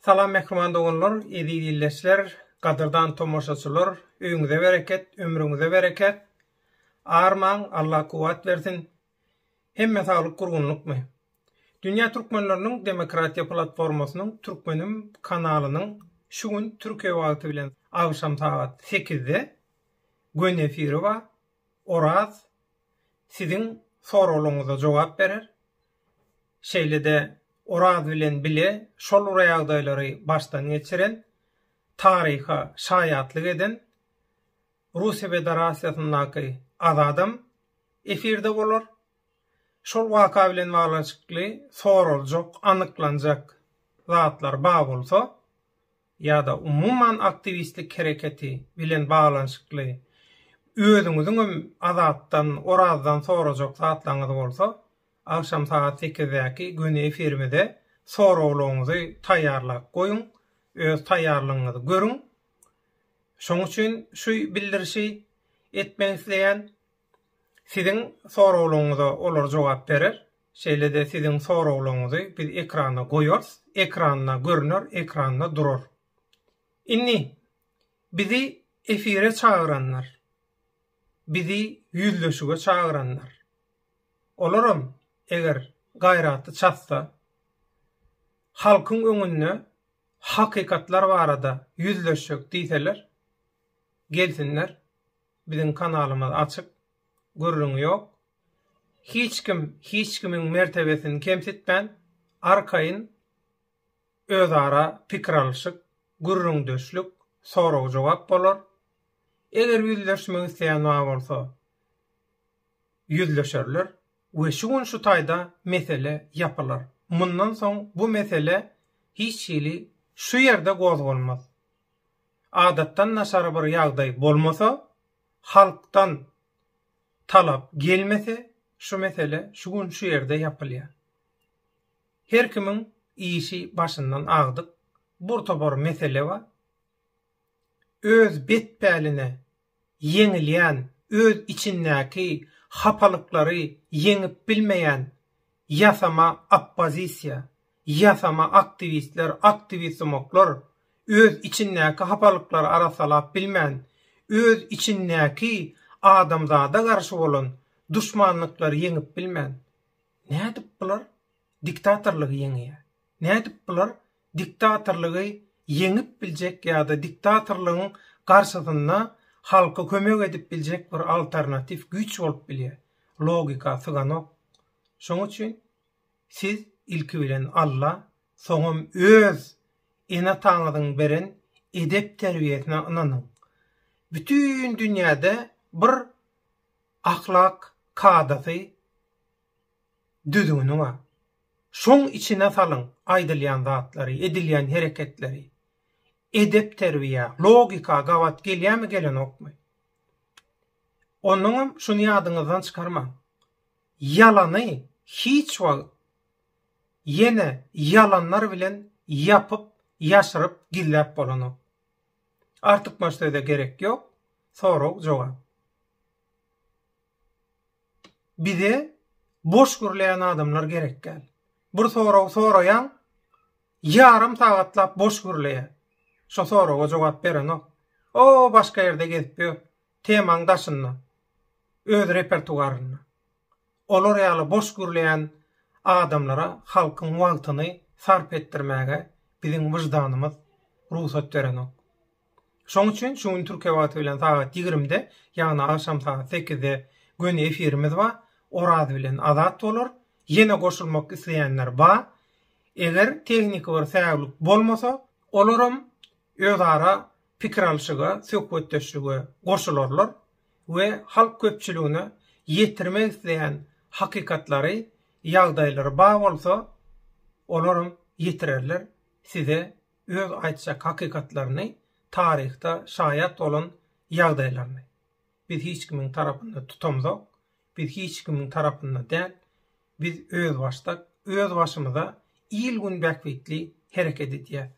Salam mähriban doganlar, eziz ildeşler, gadyrdan tomaşaçylar, öýüňize bereket, ömrüňize bereket. Armaň, Allah kuwwat bersin. Hemmä saglyk gurgunlykmy? Dünýä türkmenleriniň demokratiýa platformasynyň Türkmenim kanalynyň şu gün Türkiýe wagty bilen agşam sagat sekizde gönü efiri bar. Oraz siziň soraglaryňyza jogap berer. Şeýle-de Oraz bilen bile şol bir ýagdaýlary başdan geçiren, taryha şaýatlyk eden Russiýa Federasiýasyndaky Azadam efirde bolar. Şol waka bilen baglanyşykly soraljak, anyklanjak zatlar bar bolsa, ýa-da umuman aktiwistlik hereketi bilen baglanyşykly özüňiziň hem Azatdan, Orazdan sorajak zatlaryňyz bolsa, agşam sagat sekizdäki göni efirimize soraglaryňyzy taýýarlap goýuň, öz taýýarlygyňyzy görüň. Şoň üçin şu bildirişi etmek isleýän. Siziň soraglaryňyza olar jogap berer. Şeýle-de siziň soraglaryňyzy biz ekrana goýarys, ekranda görüner, ekranda durar. Indi bizi efire çagyranlar, bizi ýüzleşige çagyranlar, olaram eger gaýraty çatsa, halkyň öňünde hakykatlar barada ýüzleşjek diýseler, gelsinler. Biziň kanalymyz açyk. Gürrüň ýok. Hiç kim hiç kimiň mertebesini kemsitmän, arkaýyn özara pikir alyşyk, gürrüňdeşlik, sorag-jogap bolar. Eger ýüzleşmek isleýän bar bolsa, ýüzleşerler we şu gün şu taýda mesele ýapylar. Mundan soň bu mesele hiç hili şu ýerde gozgalmaz. adatdan daşary bir ýagdaý bolmasa, halkdan talap gelmese şu mesele şu gün şu ýerde ýapylýar. Her kimiň işi başyndan agdyk, bir topar mesele bar. Öz bet-päline ýeňilýän, öz içindäki hapalyklary ýeňip bilmeýän ýasama oppozisiýa, ýasama aktiwistler, aktiwist-zumoklar, öz içindäki hapalyklary arassalap bilmän, öz içindäki adamzada garşy bolan duşmanlyklary ýeňip bilmän, nädip bular diktatorlygy ýeňýär? Nädip bular diktatorlygy ýeňip biljek ýa-da diktatorlygyň garşysynda halka kömek edip biljek bir alternatiw güýç bolup bilýär. Logika syganok. Şoň üçin siz ilki bilen Alla, soňam öz ene-ataňyzyň beren edep-terbiýesine ynanyň. Bütin dünýäde bir ahlak kadasy Düzgüniňe, şoň içine salyň aýdylýan zatlary, edilýän hereketleri. Edep-terbiýä, logika gabat gelýärmi, gelenokmy? Onnoňam şuny ýadyňyzdan çykarmaň, ýalany hiç wagt ýene ýalanlar bilen ýapyp, ýaşyryp, gizläp bolanok. Artykmaç söze gerek ýok, sorag-jogap. Bize boş gürleýän adamlar gerekgäl. Bir sorag soraýaň, ýarym sagatlap boş gürleýä. Şo soraga jogap berenok. O başga ýerde gezip ýör. Temaň daşynda. Öz repertuarynda. Olar ýaly boş gürleýän adamlara halkyň wagtyny sarp etdirmäge biziň wyždanymyz rugsat berenok. Şoň üçin şu gün Türkiýe wagty bilen sagat ýigrimde, ýagny agşam sagat sekizde göni efirimiz bar. Oraz bilen Azat bolar. Ýene goşulmak isleýänler bar. Eger tehniki bir säwlik bolmasa, olaram özara pikir alşyga, söhbetdeşlige goşularlar we halk köpçüligine ýetirmek isleýän hakykatlary, ýagdaýlary bar bolsa, olaram ýetirerler, size öz aýtjak hakykatlaryny, taryhda şaýat bolan ýagdaýlaryny. Biz hiç kimiň tarapynda tutamzok, biz hiç kimiň tarapynda däl, biz özbaşdak, öz başymyza il-gün bähbitli hereket edýäs.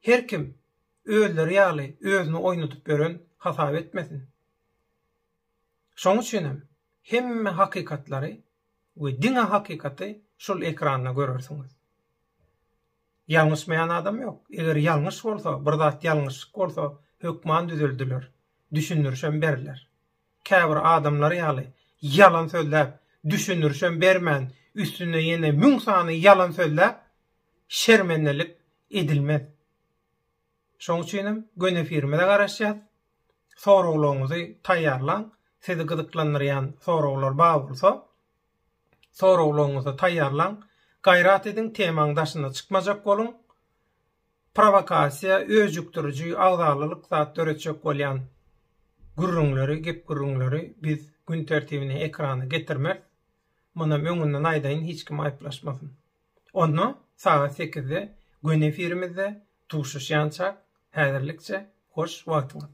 Her kim özleri ýaly özüni oýnadyp ýören hasap etmesin. Şoň üçinem hemme hakykatlary we diňe hakykaty şul ekranda görersiňiz. Ýalňyşmaýan adam ýok. Eger ýalňyş bolsa, bir zat ýalňyşlyk bolsa, hökman düzeldiler. Düşündirişem berler. Käbir adamlar ýaly, ýalan sözläp, düşündirişem bermän, üstüne ýene müň sany ýalan sözläp, şermendelik edilmez. Şoň üçin hem göni efirimize garaşýas. Soraglaryňyzy taýýarlaň. Sizi gyzyklandyrýan soraglar bar bolsa, soraglaryňyzy taýýarlaň. Gaýrat ediň, temaň daşyna çykmajak boluň. Prowokasiýa, öjükdiriji, agzalalyk zat döretjek bolýan gürrüňleri, gep-gürrüňleri biz gün tertibine, ekrana getirmeris. Munam öňünden aýdaýyn, hiç kim aýyplaşmasyn. Onda sagat sekizde göni efirimizde duşuşýançak häzirlikçe hoş wagtyňyz.